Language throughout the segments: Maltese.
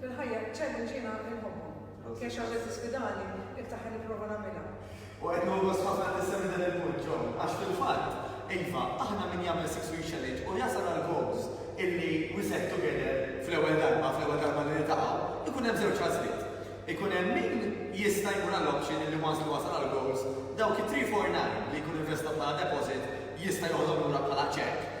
Fil-ħajja, ċerti ġiena inħobbhom. Anki jekk xi ħaġa tisfidani, iktar ħa nipprova nagħmilha. U qed nieħu gost ħafna li tissemmi dan il-punt, Jo, għax fil-fatt, iva, aħna min jagħmel Six Week Challenge u jasal għall-goals illi we set together fl-ewwel darba, fl-ewwel darba li niltaqgħu, ikun hemm żewġ għażliet. Ikun hemm min jista' jmur għall-option illi once li wasal għall-goals, dawk it-three, four, nine li jkun investa bħala deposit jista' joħodhom lura bħala cheque,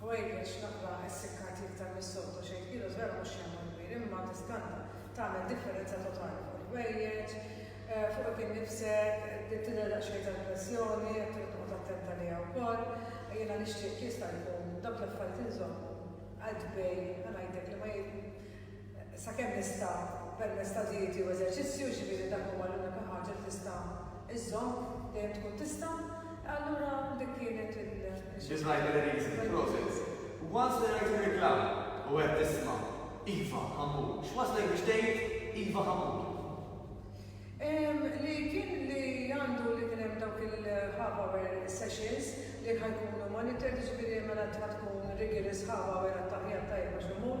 Ħwejjeġ, naqra essikkati iktar mis-soltu, xejn tqielos vera mhux xejn mod kbir, imma diskanta, tagħmel differenza totali fuq il-ħwejjeġ, fuqek innifsek, tidher daqsxejn tal-pressjoni, qed trid toqgħod attent għaliha wkoll. Jiena nixtieq, jekk jista' jkun, dawk l-affarijiet inżommhom qaltbej, ħa ngħidlek li ma, sakemm nista' permezz ta' dieti u eżerċizzju, jiġifieri dak huwa l-unika ħaġa li tista' iżżomm, dejjem tkun tista', allura dik kienet il-. This might be the reason, prosit. Once li rajt ir-reklam u għedt isma' Iva Hamour, x'wasslek biex tgħid Iva Hamour? Li kien li għandu li kien hemm dawk il-half hour sessions li ħa jkunu monitored, jiġifieri mela int ħa tkun rigorous half hour għat-taħlija t-tajba x'imur,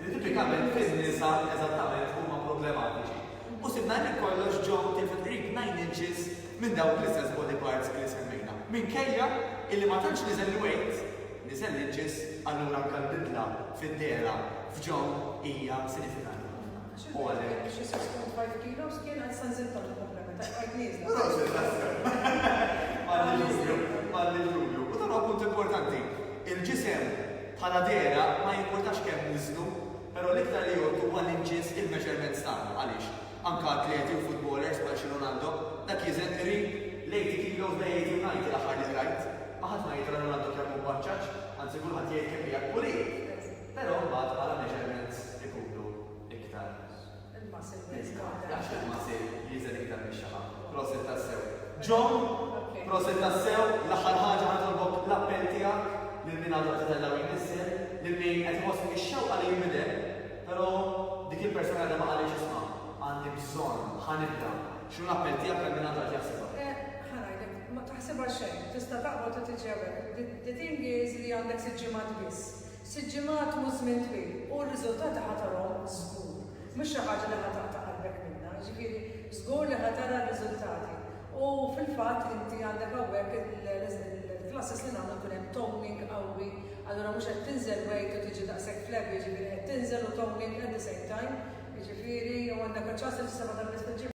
li tipikament fiż nisa eżattament huma problematiċi, u sibna li kollox ġew til fil-qrib nine inches minn dawk l-istess body parts li semmejna. Minkejja illi ma tantx niżel il-weight, niżel l-inches, allura anke l-bidla fid-dehra f'Joan hija sinifikanti ħafna. U għalhekk. Xi sitt punt five kilos kien għad sa nżidt għandu problema ta' bqajt nieżla. Prosit, tassew. M'għandix dubju, m'għandix dubju. U dan huwa punt importanti. Il-ġisem Bħala dehra, ma jimpurtax kemm niżlu, però l-iktar li jgħodd huwa li nqies il-measurements tagħna. Għaliex? Anke atleti u futbolers bħal xi Ronaldo, dak isn't three. L-eighty kilos da jgħid Unite l-aħħar li qrajt. Ma ħadd ma jgħid ta' Ronaldo kemm hu mbaċċaċ, anzi kulħadd jgħid kemm qiegħed pulit. Però mbagħad bħala measurements ikunu iktar. Jaf xi l-Masej jieżel iktar minn xi ħadd. Proset tassew. John, proset tassew, l-aħħar ħaġa ħanitolbok l-appell tiegħek lil min għadu qed itella' u jnissel, lil min qed iħoss fih ix-xewqa li jinbidel, però dik il-persuna għadha ma qalitx ismha, għandi bżonn, ħa nibda. X'inhu l-appell tiegħek għal min għadu qed jaħsibha? Ħa ngħidlek, ma taħsibha xejn, tista' taqbad u tiġi hawn. The thing is li għandek sitt ġimgħat biss. Sitt ġimgħat mhux żmien twil u r-riżultati ħa tarahom żgur. Mhux xi ħaġa li ħa taqta' qalbek minnha, jiġifieri żgur li ħa tara r-riżultati. U fil-fatt inti għandek hawnhekk il-classes li nagħmlu jkun hemm toning qawwi, allura mhux qed tinżel weight u tiġi daqshekk flabby, jiġifieri qed tinżel u toning at the same time, jiġifieri u għandek aċ-ċans li tissema' tal-biss mill-ġimgħa.